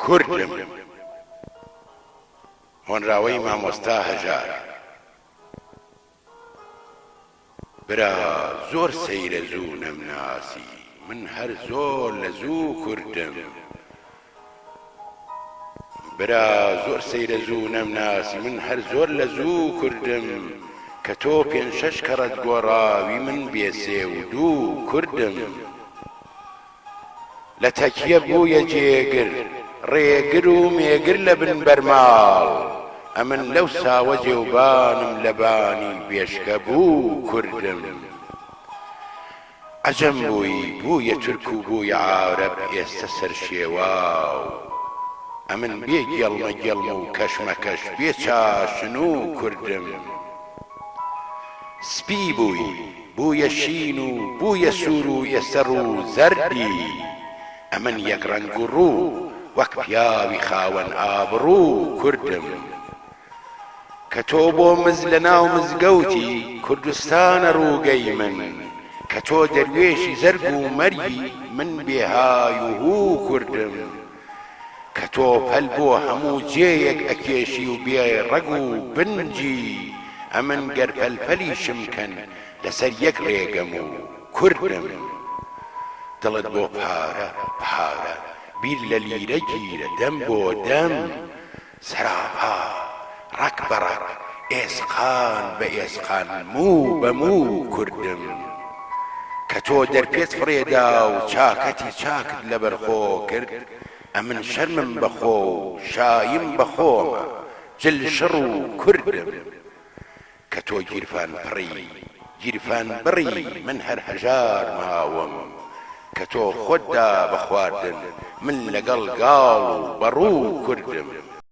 کوردم. هۆنراوەی مامۆستا هەژار. برا زۆر سەیرە زوو نەمناسی من هەر زۆر لە زوو کوردم برا زۆر سەیرە زوو نەمناسی من هەر زۆر لە زوو کوردم کە تۆ پێنج شەش کەڕەت گۆڕاوی من بێ سێ و دوو کوردم. لە تەکیە بوویە جێگر، ڕێگر و مێگر لە بن بەرماڵ، ئەمن لەو ساوە جێوبانم لە بانی بێشکە بوو کوردم. عەجەم بووی بوویە تورک و بوویە عارەب ئێستە سەرشێواو، ئەمن بێ گێڵمە گێڵم و کەشمەکەش بێ چاشن و کوردم. سپی بووی بوویە شین و بوویە سوور و ئێستە ڕوو زەردی. ئەمن یەک ڕەنگ و ڕوو، وەک پیاوی خاوەن ئابڕوو کوردم. کە تۆ بۆ مز لە ناو مزگەوتی کوردستانە ڕووگەی من. کە تۆ دەروێشی زەرگ و مەرگی من بێهای و هوو کوردم. کە تۆ پەل بۆ هەموو جێیەک ئەکێشی و بێ ڕەگ و بنجی، ئەمن گەر پەل پەلیشم کەن لەسەر یەک ڕێگەم و کوردم. دڵت بۆ پارە، پارە، بیر لە لیرە گیرە، دەم بۆ دەم، سەراپا، ڕەگ بە ڕەگ، ئێسقان بە ئێسقان، موو بە موو کردم. کە تۆ دەرپێت فڕێدا و چاکەتی چاکت لەبەرخۆ کرد، ئەمن شەرمم بە خۆ و شایم بە خۆمە، جل شڕ و کردم. کە تۆ گیرفان پڕی، گیرفان بڕی، من هەر هەژار ماوم. کە تۆ خۆت دا بە خواردن، من لەگەڵ گاڵ و بەڕوو کردم.